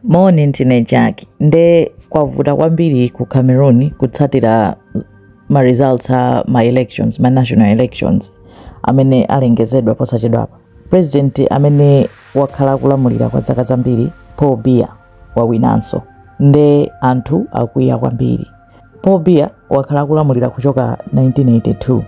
Moni, ndine Jack. Nde kwavuta kwambiri ku Cameroon kutsatira ma results a ma elections, ma national elections amene alengezedwa posachedwapa. President amene wakhala akulamulira kwa zaka zambiri Paul Biya wawinanso. Nde anthu akwiya kwambiri. Paul Biya wakhala akulamulira kuchoka 1982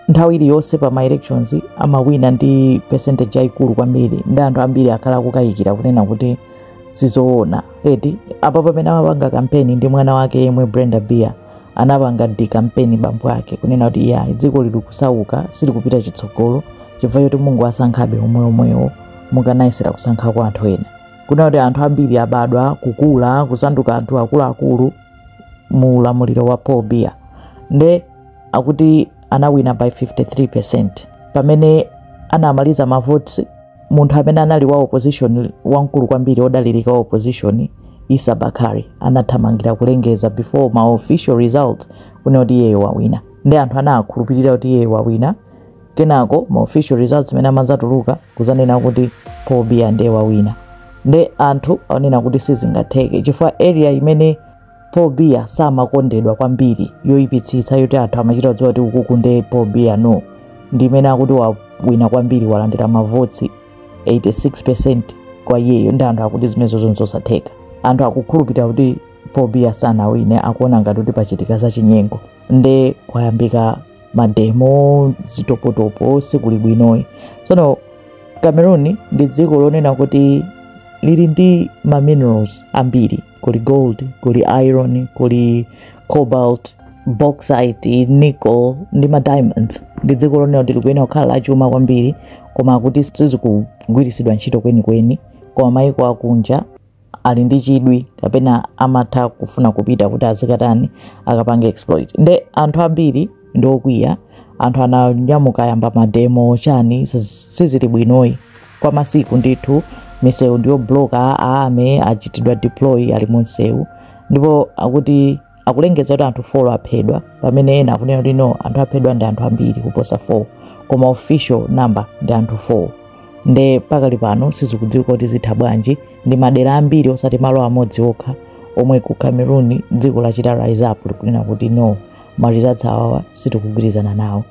nthawi iliyonse pa ma elections amawina ndi percentage yayikulu kwambiri ndi anthu ambiri akhala akukayikira kunena kuti sizoona apa pamene amapanga kampeni ndi mwana wake yemwe Brenda Biya anapanga decampaign bambo ake kunena kuti iya dziko lili kusauka silikupita chitsogolo chifukwa choti mukungowasankhabe omweomwewo mukanayesera kusankhako anthu ena kunena kuti anthu ambiri abadwa kukula kusanduka anthu akuluakulu mu ulamuliro wa paul biya nde akuti anawina by 53 percent pamene anamaliza mavoti munthu amene anali wa opposition wamkulu kwambiri odalirika wa opposition Issa Bakary anathamangira kulengeza before ma official result kunena kuti iyeyo wawina ndi anthu anakhulupirira kuti iyeyo wawina kenako ma official results amene amadzatuluka kuzanena kuti Paul Biya ndiye wawina nde anthu akuona kuti sizingatheke chifukwa area imene Paul Biya samakondedwa kwambiri yoyipitsitsa yoti anthu amachita kudziwa kuti ukuku nde Paul Biya no ndi imene akuti wawina kwambiri walandira ma votes 86% kwa iyeyo ndi anthu akuti zimenezo nzosatheka anthu akukhulupirira kuti Paul Biya sanawine akuona ngati kuti pachitika zachinyengo nde kwayambika mademo zitopotopo sikuli bwinoyi tsono cameroon ndi dziko lonena kuti lili ndi ma minerals ambiri kuli gold kuli iron kuli cobalt bauxite nickel ndi ma diamonds ndi dziko lonena kuti likuyenera kukhala lachuma kwambiri koma kuti sizikugwiritsidwa ntchito kwenikweni koma maiko akunja ali ndi chidwi kapena amatha kufuna kupita kuti azikatani akapange exploit nde anthu ambiri ndi okwiya anthu ananyamuka ayamba mademo chani siz- sizili bwinoyi kwa masiku ndithu misewu ndi yobloka a army achitidwa deploy ali mu msewu ndipo akuti akulengeza kuti anthu 4 aphedwa pamene ena akunena kuti no anthu aphedwa ndi anthu ambiri kuposa 4 koma official number ndi anthu 4 nde pakali pano sizikudziwika kuti zitha bwanji ndi madera ambiri osati malo amodzi okha omwe ku cameroon dziko lachita rise up likunena kuti no ma results awawa sitikugwirizana nawo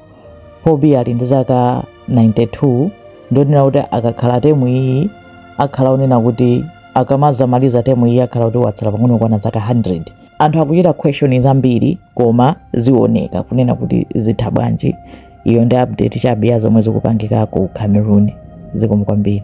Paul Biya ali ndi zaka 92 ndi onena kuti akakhala temu iyi akhala onena kuti akamazamaliza temu iye akhala kuti watsala pang'ono kukwana zaka 100 anthu akuchita question zambiri koma zioneka kunena kuti zitha bwanji iyo ndi update chabe ya zomwe zikupangika ku cameroon zikomo kwambiri